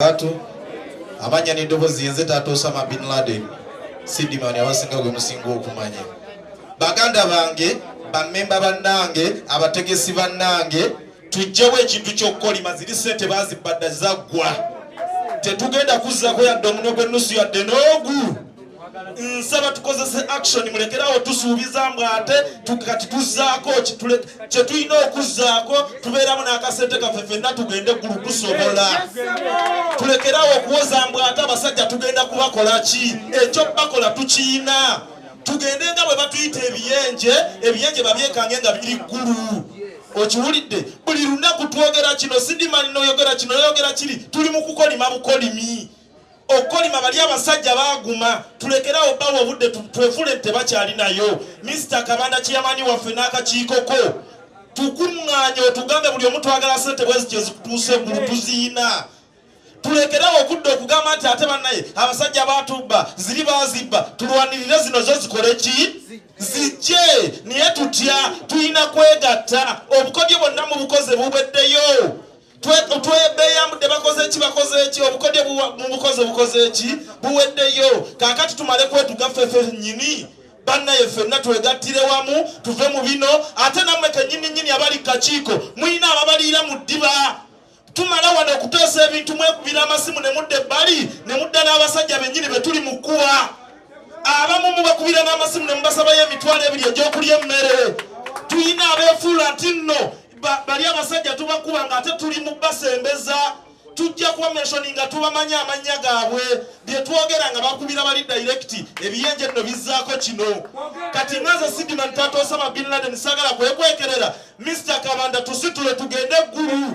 Barakatuh amanya n'eddoboozi yenze taata Osama bin Laden sidimani abasinga gwe musinga okumanya baganda bange bamemba bannange abategesi bannange tujjewo ekintu ky'okukolima ziri sente bazibadda zaggwa tetugenda kuzzako yadde omunwe gw'ennusu yadde n'ogu nsaba tukozese action mulekerawo tusuubiza mbu ate kati tuzzaako kye tulina okuzzaako tubeeramu n'akasente kaffe fenna tugende eggulu tusobola tulekerawo okuwoza mbu ate abasajja tugenda kubakola ki ekyo bakola tukiyina tugende nga bwe batuyita ebiyenje ebiyenje babyekange nga biri ggulu okiwulidde buli lunaku twogera kino sidimani noyogera kino noyogera kiri tuli mu kukolima bukolimi okukolima bali abasajja baguma tulekerawo bawa obudde twefule nti tebakyalinayo minisita kabanda kiyamani waffe n'akakiikoko tukuŋŋaanye otugambe buli omu twagala sente bwezi kyezikutuusa eggulu tuziyina tulekerawo okudda okugamba nti ate bannaye abasajja batubba ziri bazibba tulwanirire zino zo zikole ki zijje naye tutya tulina kwegatta obukodyo bonna mu bukoze bubeddeyo twebeyambudde bakoze ki bakoze ki obukodyo mubukozi obukoze ki buweddeyo kakati tumale kwetuga fefe nyini bannaye fenna twegattire wamu tuve mu bino ate namwe kenyini nyini abali kakiiko mulina ababaliira mu ddiba tumala wano okuteesa ebintu mwekubira amasimu ne mudda ebbali ne mudda n'abasajja bennyini be tuli mu kkuwa abamu mubakubira n'amasimu ne mubasabayo emitwalo ebiri egyokulya emmere tulina abeefuula nti nno bali abasajja tubakuba nga ate tuli mu basembeza tujja kuba meshoni nga tubamanyi amannya gaabwe byetwogera nga bakubira bali dayirekiti ebiyenje nno bizzaako kino kati ngaze sidiman tata osama bin laden sagala kwekwekerera mr kabanda tusitule tugende eggulu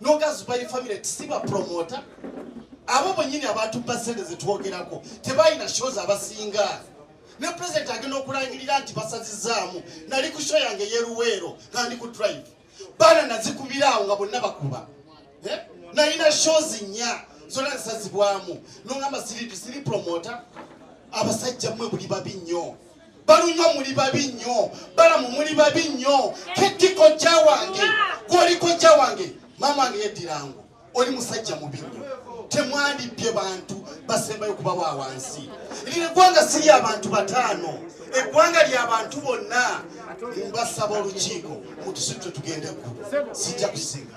nogazubayi family tisiba promota abo bonyini abatubba sente zetwogerako tebalina shows abasinga ne president agenda okulangirira nti basazizaamu nali ku show yange yeruweero nga ndi ku drive baana nazikubiraawo nga bonna bakuba eh? nalina shows nya zona zisazibwamu nongamba siri promota abasajja mwe buli babi nnyo balunywa muli babi nnyo balamu muli babi nnyo ketti kojja wange gwoli kojja wange maama wange yeddirangu oli musajja mubi nnyo temwandibbye bantu basembayo kuba wa wansi lino eggwanga si lya bantu bataano eggwanga lya bantu bonna mbasaba olukiiko mutusitwe tugende eggulu sijja kusinga